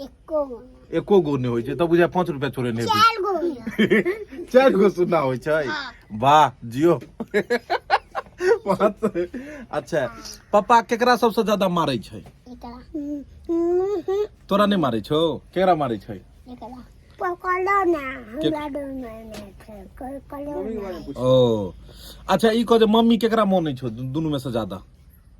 एको गो एको गो नहि होइ छै तऽ बुझाय पाँच रुपया चोरे नहि चारि गो होइए। चारि गो सुना होइ छै वाह जियो पाँच अच्छा पप्पा केकरा सबसँ ज्यादा मारै छै एकरा तोरा नहि मारै छौ केकरा मारै छै एकरा पकड़ो ना हमरा डर मारने छै कोई पकड़ो ना ओ अच्छा ई कह जे मम्मी केकरा मानै छौ दुनू में से ज्यादा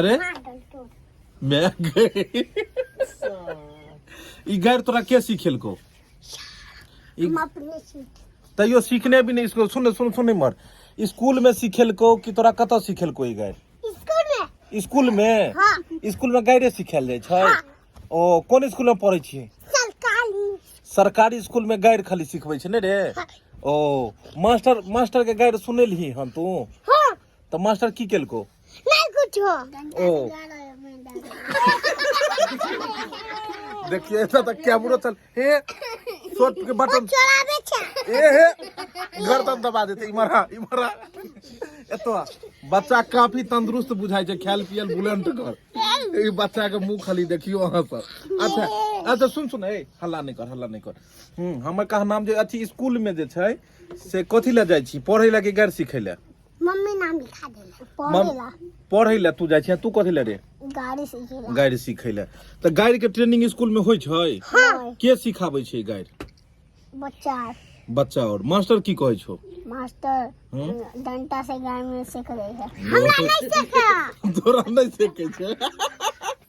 अरे मैं गई ई गैर तोरा के सिखेलको ई- हम अपने सीख तैयो सीखने भी नहीं इसको सुन सुन सुन मर स्कूल में सिखेलको कि तोरा कतऽ सिखेलको ई गैर स्कूल में स्कूल में हाँ स्कूल में गैरे सिखायल जाइ छै हाँ। ओ कोन स्कूल में पढ़ै छियै सरकारी सरकारी स्कूल में गैर खाली सिखबै छै ने रे हाँ। ओ मास्टर मास्टर के गैर सुनेलही हन तू हाँ তো মাস্টার কি কেলকো নাই কিছু ও देखिए ऐसा था क्या बुरा चल हे शॉर्ट के बटन ए हे गर्दन दबा देते इमरा इमरा एतो बच्चा काफी तंदुरुस्त बुझाई छै खेल पियल बुलंट कर ए बच्चा के मुंह खाली देखियो अहां पर अच्छा अच्छा सुन सुन ए हल्ला नहीं कर हल्ला नहीं कर हम हमर कहा नाम जे अथी स्कूल में जे छै से कथी लए जाइ छी पढ़ै लए कि गारि सिखै लए मम्मी नाम लिखा देले पढ़े ला पढ़ै लए तू जाइ छी तू कथी लए रे गाड़ी सीखे ला गारि सिखै लए तऽ गारि के ट्रेनिंग स्कूल में होइ छै हाँ के सिखाबै छै गारि बच्चा बच्चा और मास्टर की कहै छौ मास्टर हम्म। डंटा से गाय में सीख रही है तोरा नहि सिखै छै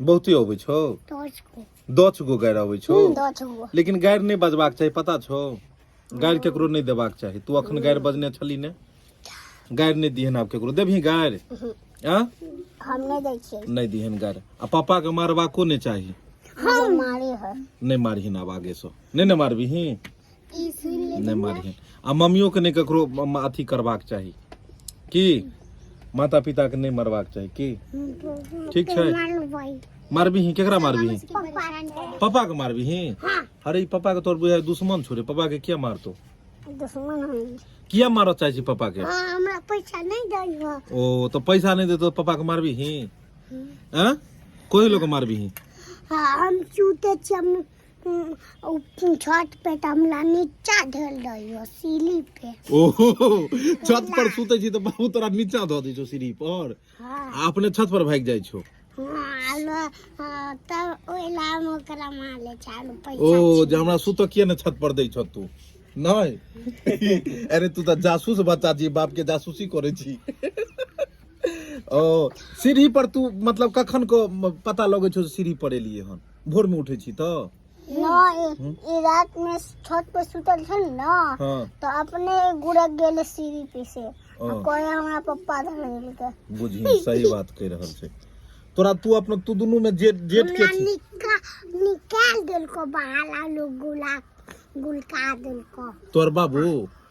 बहुते अबै छौ दस गो गाड़ि अबै छौ लेकिन गाड़ि नहि बजबाक चाही पता छौ गाड़ि केकरो नहि देबाक चाही तू अखन गाड़ि बजने छली ने गाड़ि नहि दिहन आब केकरो देबही गाड़ि आ नहि दिहन गाड़ि आ पापा के मारबाको नहि चाही नहि मारही आब आगे से नहि ने मारबही ई सुनि ले नहि मारिहन आ मम्मियो के नहि ककरो म- म- अथी करबाक चाही की माता पिता के नहि मरबाक चाही की ठीक छै मारबिही केकरा मारबिही परेशान कर पापा के मारबिही अरे ई पापा के तोर बुझाय दुश्मन छोड़े पापा के किया मारतो दुश्मन है किया मारऽ चाहै छी पापा के हाँ हमरा पैसा नहीं दई हो ओ तो पैसा नहीं देतो पापा के मारबिही हैं कोई लोग के मारबिही हाँ हम चूते छी हम ओ छत पे त हमरा नीचा धल रहियो सीढ़ी पे ओहो छत पर सुते छी त बाबू तोरा नीचा ध दै छौ सीढ़ी पर हाँ आ अपने छत पर भागि जाइ छौ हाँ लो हाँ, तब ओइ ला हम ओकरा मार ले चालू पैसा ओ जे हमरा सुत किया ने छत पर दै छौ तू नहि अरे तू त जासूस बच्चा छी बाप के जासूसी करै छी ओ सीढ़ी पर तू मतलब कखन को पता लगै छौ जे सीढ़ी पर एलियै हन भोर में उठे छी तो ई रात में छत पे सुतल छन ना हाँ। तो अपने गुड़क गेल सीढ़ी पे से हाँ। कोई हमारा पप्पा धर गेल के बुझी सही बात कह रहल छे तोरा तू अपना तू दोनों में जेट जेट के छी निका, निकाल देल को बाहर लोग गुला गुलका देल को तोर बाबू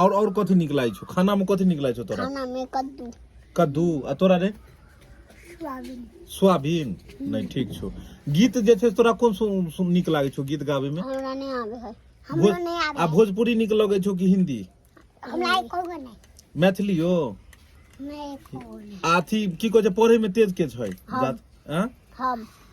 और और कथि निकलाइ छौ खाना में कथि निकलाइ छौ तोरा खाना में कद्दू कद्दू आ तोरा रे सोयाबीन सोयाबीन नहीं ठीक छौ गीत जे छै तोरा कोन सुन, सुन निक लागे छौ गीत गावे में हमरा नहीं आवे है हमरो भोज, नहीं आवे आ भोजपुरी निक लगे छौ कि हिंदी हमरा एको गो नहीं मैथिलियो मैं एको गो नहीं अथी की कहे छै पढ़े में तेज के छै हम। जात- आँ? हम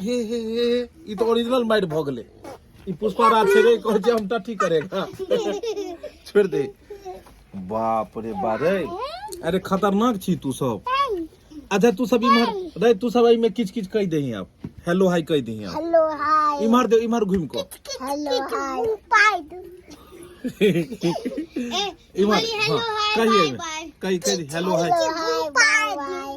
हे हे हे ई तऽ ओरिजिनल मारि भऽ गेलै ई पुष्पा राज छै रे कहै छै हम टट्टी करेगा छोड़ दे बाप रे बा रे अरे खतरनाक छी तू सब अच्छा तू सब इम्हर रे तू सब एहिमे किच किच कहि दही आब हेलो हाय कहि दही आब हेलो हाय इम्हर दे इम्हर घुमि कऽ हेलो हाय इम्हर हाँ, कहिए कहि कहि हेलो हाय हेलो हाय